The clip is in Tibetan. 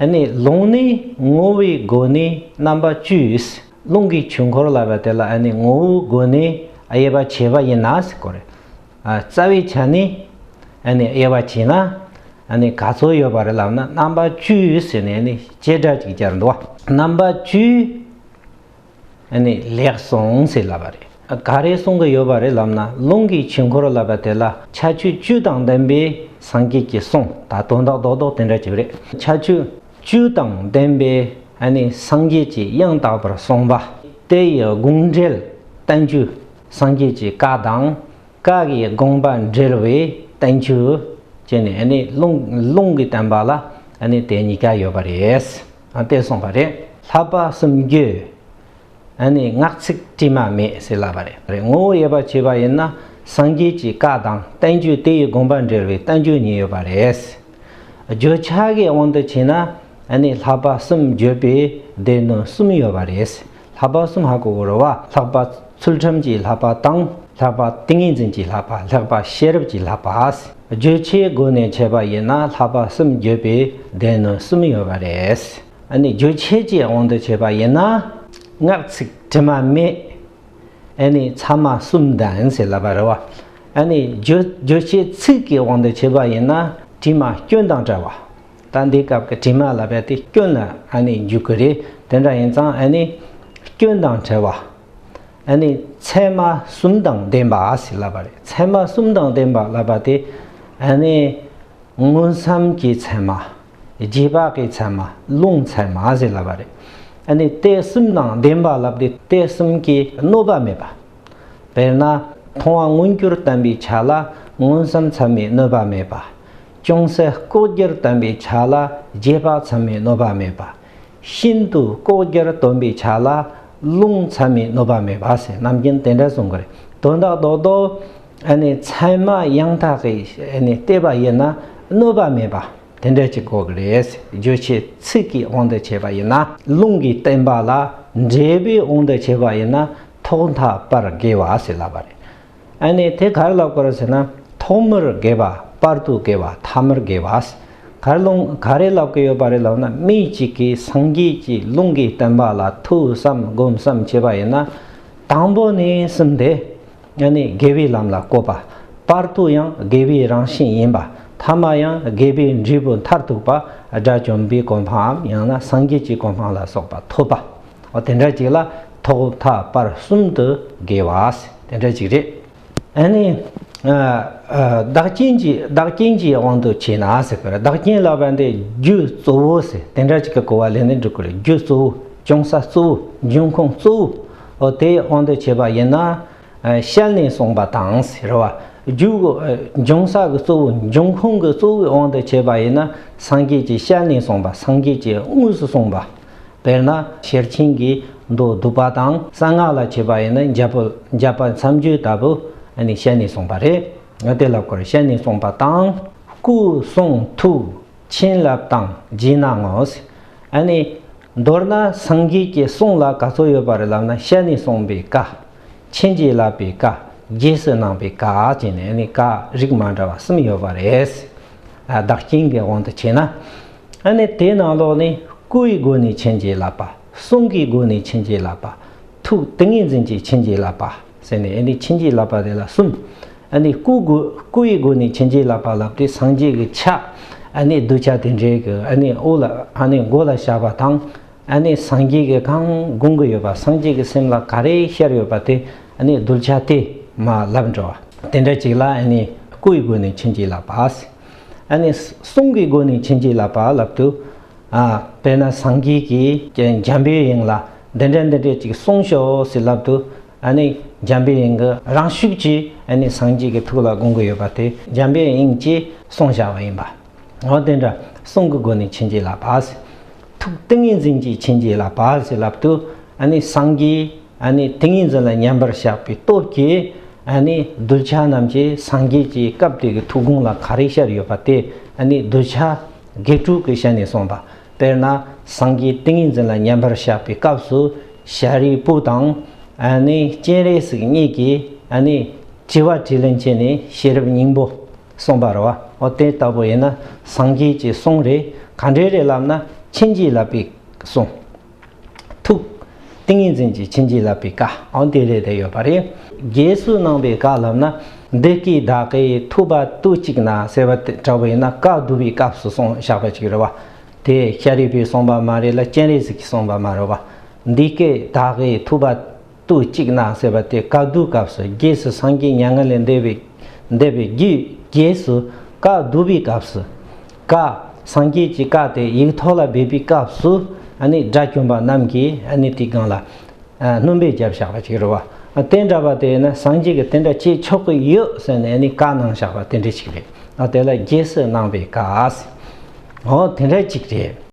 ནི་རླུང་ནི་ངོ་བོའི་སྒོ་ནས་རྣམ་པ་བཅུས་རླུང་གི་ཆུ་འཁོར་ལ་བ་དེ་ལ་ནི་ངོ་བོའི་སྒོ་ནས་དབྱེ་བ་བྱེད་པ་ཡིན་ན་གོ་རེ། རྩ་བའི་ཆ་ནས་ནི་དབྱེ་བ་བྱེད་ན་ནི་ག་ཚོད་ཡོད་པ་རེད་ལབ་ན་རྣམ་པ་བཅུ་ཟེར་ནས་ནི་བྱེ་བྲག་ཅིག་ཅར་འདུ་བ་རྣམ་པ་བཅུའི་ཨ་ནི་ལེགས་སོང་ཟེར་ལབ་པ་རེད། ག་རེ་གསུང་གི་ཡོད་པ་རེད་ལབ་ན་རླུང་གི་བྱེད་འཁོར་ལབ་པ་དེ་ལ་ཆ་ཆུ་བཅུ་དང་ལྡན་པའི་སངས་རྒྱས་ཀྱི་གསུང་ད་དོན་དག་རྡོག་རྡོག་དེ་འདྲ་བྱེད་པ་རེད་ཆ་ཆུ་བཅུ་དང་ལྡན་པའི་ཨ་ནི་སངས་རྒྱས་ཀྱི་དབྱངས་དག་པར་གསུངས་པ་དེ་ཡི་དགོངས་འགྲེལ་བསྟན་བཅོས་སངས་རྒྱས་ཀྱི་བཀའ་དང་བཀའ་ཡི་དགོངས་པ་འགྲེལ་བའི་བསྟན་བཅོས་བཅས་ནི་ཨ་ནི་རླུང་གི་བསྟན་པ་ལ་ཨ་ནི་དེ་གཉིས་ཀ་ཡོད་པ་རེད། བལྟས་སོང་བ་རེད། ལྷག་པ་གསུམ་བརྒྱུད་ཨ་ནི་ངག་ཚིག་དྲི་མ་མེད་ཟེར་ལབ་པ་རེད། ངོ་བོ་ཡོད་པར་བྱས་པ་ཡིན་ན་སངས་རྒྱས་ཀྱི་བཀའ་དང་བསྟན་བཅོས་དེ་ཡི་དགོངས་པ་འགྲེལ་བའི་བསྟན་བཅོས་གཉིས་ཡོད་པ་རེད། བརྗོད་བྱ་དགའི་དབང་དུ་བྱས་ན་ཨ་ནི་ལྷག་པ་གསུམ་བརྒྱུད་པའི་སྡེ་སྣོད་གསུམ་ཡོད་པ་རེད། ལྷག་པ་སུམ་བྷ་གུ་བོར་བ་ལྷག་པ་ཚུལ་ཁྲིམས་ཀྱི་ལྷག་པ་དང་ལྷག་པ་ཏིང་ངེ་འཛིན་གྱི་ལྷག་པ་ལྷག་པ་ཤེས་རབ་ཀྱི་ལྷག་པ་བརྗོད་བྱའི་སྒོ་ནས་འཆད་པ་ཡིན་ན་ལྷག་པ་གསུམ་བརྗོད་པའི་སྡེ་ནི་གསུམ་ཡོད་པ་རེད། ཨཱ་ནི་རྗོད་བྱེད་ཀྱི་དབང་དུ་བྱས་པ་ཡིན་ན་ངག་ཚིག་དྲི་མ་མེད། ཨཱ་ནི་ཚད་མ་གསུམ་ལྡན་ཟེར་ལབ་པ་རེད། ཨཱ་ནི་རྗོད་བྱེད་ཚིག་གི་དབང་དུ་བྱས་པ་ཡིན་ན་དྲི་མ་སྐྱོན་དང་བྲལ་བ། ད་འདི་སྐབས་ཀྱི་དྲི་མ་ལ་རྦད་དེ་སྐྱོན་ནི་ཨ་ནི་འཇུག་གི་རེད་དེ་འདྲ་ཡིན་ཙང་ཨ་ནི་སྐྱོན་དང་བྲལ་བ། ཨ་ནི་ཚད་མ་གསུམ་དང་ལྡན་པ་ཞེས་ལབ་པ་རེད་ཚད་མ་གསུམ་དང་ལྡན་པ་ལབ་པ་དེ་ཨ་ནི་དངོས་བསམ་གྱི་ཚད་མ། རྗེས་དཔག་གི་ཚད་མ་རླུང་ཚད་མ་ཞེས་ལབ་པ་རེད་ཨ་ནི་དེ་གསུམ་དང་ལྡན་པ་ལབ་དེ་དེ་གསུམ་གྱི་གནོད་པ་མེད་པ། དཔེར་ན། མཐོང་བ་མངོན་གྱུར་བསྟན་པའི་ཆ་ལ་མངོན་བསམ་མཚན་མའི་གནོད་པ་མེད་པ། ཅུང་ཟད་ལྐོག་གྱུར་བསྟན་པའི་ཆ་ལ་རྗེས་དཔག་མཚན་མའི་གནོད་པ་མེད་པ། ཤིན་ཏུ་ལྐོག་གྱུར་སྟོན་པའི་ཆ་ལ་རླུང་མཚན་མའི་གནོད་པ་མེད་པ་ཟེར་རྣམ་མཁྱེན་དེ་འདྲ་གསུངས་པ་རེད། དོན་དག་རྡོག་རྡོག་ཨེ་ནས་མཚན་མ་ཡང་དག་གི་ཨེ་ནས་བལྟས་པ་ཡིན་ན་གནོད་པ་མེད་པ་དེ་འདྲ་གཅིག་གོ་གི་རེད། བརྗོད་བྱའི་ཚིག་གི་དབང་དུ་བྱས་པ་ཡིན་ན། རླུང་གིས་བསྟན་པ་ལ་འབྲས་བུའི་དབང་དུ་བྱས་པ་ཡིན་ན་ཐོག་མཐའ་བར་དགེ་བ་ཟེར་ལབ་པ་རེད། ཨ་ནི་དེ་གར་ལབ་དགོས་ཟེར་ན་ཐོག་མར་དགེ་བ་པར་དུ་དགེ་བ་ཐ་མར་དགེ་བ། གར་རླུང་ག་རེ་ལབ་གི་ཡོད་པ་རེད་ལབ་ན་མི་གཅིག་གིས་སངས་རྒྱས་ཀྱི་རླུང་གི་བསྟན་པ་ལ་ཐུགས་བསམ་སྒོམ་བསམ་བྱས་པ་ཡིན་ན་དང་པོ་ནས་གསུམ་དེ་ཨ་ནི་དགེ་བའི་ལམ་ལ་བཀོད་པ་པར་དུ་ཡང་དགེ་བའི་རང་བཞིན་ཡིན་པ་ཐ་མ་ཡང་དགེ་བའི་འབྲས་བུ་མཐར་ཐུག་པ་དགྲ་བཅོམ་པའི་གོ་འཕང་འམ་ཡང་ན་སངས་རྒྱས་ཀྱི་གོ་འཕང་ལ་སོགས་པ་ཐོབ་པ་འོ་དེ་འདྲ་ཅིག་ལ། ཐོག་མཐའ་བར་གསུམ་དུ་དགེ་བ་དེ་འདྲ་ཅིག་རེད། ཨ་ནི། བདག་རྐྱེན་གྱིས་བདག་རྐྱེན་གྱི་དབང་དུ་བྱས་ན་ཟེར་བར་བདག་རྐྱེན་ལ་བར་འདི་རྒྱུ་གཙོ་བོ་ཟེར་དེ་འདྲ་ཅིག་གི་གོ་བ་ལེན་ནི་འགྲིག་གི་རེད་རྒྱུ་གཙོ་བོ་བྱུང་ས་གཙོ་བོ་འབྱུང་ཁུངས་གཙོ་བོ་དེ་དབང་དུ་བྱས་པ་ཡིན་ན། ཤེལ་ནས་གསུངས་པ་དང་ཟེར་བ་རྒྱུ་འབྱུང་ས་གི་གཙོ་བོ་འབྱུང་ཁུངས་ཀྱི་གཙོ་བོའི་དབང་དུ་བྱས་པ་ཡིན་ན་སངས་རྒྱས་ཀྱི་ཤེལ་ནས་གསུངས་པ་སངས་རྒྱས་ཀྱི་དངོས་སུ་གསུངས་པ་དཔེར་ན་ཤེར་ཕྱིན་གྱི་མདོ་བསྡུ་བ་དང་གསང་སྔགས་ལ་བྱེད་པ་ཡིན་ན་འཇགས་པ་མཚམས་གཅོད་ལྟ་བུ་བཤད་ནས་གསུངས་པ་རེད། དེ་ལ་སྐོར་བཤད་ནས་གསུངས་པ་དང། སྐུ་གསུང་ཐུགས་བྱིན་རླབས་དང་སྦྱིན་ན་ངོ། མདོར་ན་སངས་རྒྱས་ཀྱི་གསུང་ལ་ག་ཚོད་ཡོད་པ་རེད་ལབ་ན་བཤད་ནས་གསུངས་པའི་བཀའ། ཕྱིན་རྗེས་བསླབ་པའི་བཀའ། རྗེས་སུ་གནང་པའི་བཀའ་བཅས་ནས་བཀའ་རིགས་མ་འདྲ་བ་གསུམ་ཡོད་པ་རེད། བདག་རྐྱེན་གྱི་དབང་དུ་བྱས་ན། ཨ་ནི་དེ་ནང་ལོགས་ནས་སྐུ་ཡི་སྒོ་ནས་བྱིན་གྱིས་བརླབས་པ། གསུང་གི་སྒོ་ནས་བྱིན་གྱིས་བརླབས་པ། ཐུགས་ཏིང་ངེ་འཛིན་གྱིས་བྱིན་གྱིས་བརླབས་པ་ཟེར་ནས་ཨ་ནི་བྱིན་གྱིས་བརླབས་པ་དེ་ལ་གསུམ། ཨ་ནི་སྐུ་དགོས་སྐུ་ཡི་སྒོ་ནས་བྱིན་གྱིས་བརླབས་པ་བརླབས་ཏེ་སངས་རྒྱས་ཀྱི་ཆ། ཨ་ནི་གདུལ་བྱ་དེ་འདྲའི་གི་ཨ་ནི་དབུ་ལ་ཨ་ནི་མགོ་ལ་བཞག་པ་དང། ཨ་ནི་སངས་རྒྱས་ཀྱི་གང་དགོངས་ཀྱི་ཡོད་པ་སངས་རྒྱས་ཀྱི་སེམས་ལ་ག་རེ་ཤར་ཡོད་པ་དེ་ཨ་ནི་གདུལ་བྱ་དེ་མ་བརླབས་འགྲོ་བ་དེ་འདྲ་ཅིག་ལ་ཨ་ནི་སྐུ་ཡི་སྒོ་ནས་བྱིན་གྱིས་བརླབས་པ། ཨཱ་ནི། གསུང་གི་སྒོ་ནས་བྱིན་གྱིས་བརླབས་པ་བརླབ་ཏུ་ཨཱ། དཔེར་ན་སངས་རྒྱས་ཀྱི་འཇམ་པའི་དབྱིངས་ལ་འདི་འདྲ་འདི་འདྲ་ཅིག་གསུངས་ཤོག་ཟེར་ལབ་ཏུ་ཨཱ་ནི། འཇམ་པའི་དབྱིངས་ཀྱི་རང་ཤུགས་ཀྱིས་ཨཱ་ནི་སངས་རྒྱས་ཀྱི་ཐུགས་ལ་དགོངས་ཀྱི་ཡོད་པ་དེ་འཇམ་པའི་དབྱིངས་ཀྱིས་གསུངས་བཞག་པ་ཡིན་པ། འོ་དེ་འདྲ་གསུང་གི་སྒོ་ནས་བྱིན་གྱིས་བརླབས་པ། ཐུགས་ཏིང་ངེ་འཛིན་གྱིས་ཕྱིན་ཅི་ལ་བར་ཞེས་ལབ་ཏུ། སངས་རྒྱས་ཏིང་ངེ་འཛིན་ལ་མཉམ་པར་བཞག་པའི་སྟོབས་ཀྱིས། གདུལ་བྱ་རྣམས་ཀྱི་སངས་རྒྱས་ཀྱི་སྐབས་དེ་གི་ཐུགས་དགོངས་ལ་ག་རེ་ཤར་ཡོད་པ་དེ་གདུལ་བྱ་བགེགས་དྲུག་གི་ཞལ་ནས་གསུངས་པ། དཔེར་ན་སངས་རྒྱས་ཏིང་ངེ་འཛིན་ལ་མཉམ་པར་བཞག་པའི་སྐབས་སུ་ཤཱ་རིའི་བུ་དང། སྤྱན་རས་གཟིགས་གཉིས་ཀྱིས། བྱི་བ་དྲིས་ལན་བྱས་ནས་ཤེས་རབ་སྙིང་པོ། གསུངས་པ་རེད། འོ་དེ་ལྟ་བུ་ཡིན་ན་སངས་རྒྱས་ཀྱི་གསུང་རེད་ག་འདྲའི་རེད་ལབ་ན་ཕྱིན་ཅི་ལབ་པའི་གསུང། ཐུགས། ཏིང་ངེ་འཛིན་གྱི་ཕྱིན་ཅི་ལབ་པའི་བཀའ་འོ་དེ་རེད་དེ་ཡོད་པ་རེད། རྗེས་སུ་གནང་པའི་བཀའ་ལབ་ན་འདི་སྐད་བདག་གིས་ཐུགས་པ་ཏུ་གཅིག་ན་ཟེར་བ་དེ་འདྲ་བུ་ཡིན་ན་བཀའ་བསྡུ་བའི་སྐབས་སུ་གསུངས་བཞག་པ་ཅིག་རེད་བ། དེ་ཤཱ་རིའི་བུས་གསུངས་པ་མ་རེད་ལ་སྤྱན་རས་གཟིགས་ཀྱིས་གསུངས་པ་མ་རེད་བ། འདི་སྐད་བདག་གིས་ཐུགས་པ། ཏུ་གཅིག་ན་ཟེར་བ་དེ་བཀའ་བསྡུ་སྐབས་སུ་རྗེས་སུ་སངས་རྒྱས་མྱ་ངན་ལས་འདས་པའི་འདས་པའི་རྒྱུད་རྗེས་སུ་བཀའ་བསྡུ་བའི་སྐབས་སུ། བཀའ་སངས་རྒྱས་ཀྱི་བཀའ་དེ་ཡིག་ཐོག་ལ་སྦས་པའི་སྐབས་སུ་དགྲ་བཅོམ་པ་རྣམས་ཀྱིས་དེའི་སྒང་ལ་སྣུམ་པའི་རྒྱབ་བཞག་པ་ཅིག་རེད་བ། དེ་འདྲ་བ་དེ་ནི་སངས་རྒྱས་ཀྱི་དེ་འདྲ་བྱེད་ཆོག་གི་ཡོད་ཟེར་ནས་བཀའ་གནང་བཞག་པ་དེ་འདྲ་ཞིག་རེད། དེ་ལ་རྗེས་སུ་གནང་བའི་བཀའ་ཨ། དེ་འདྲ་ཅིག་རེད།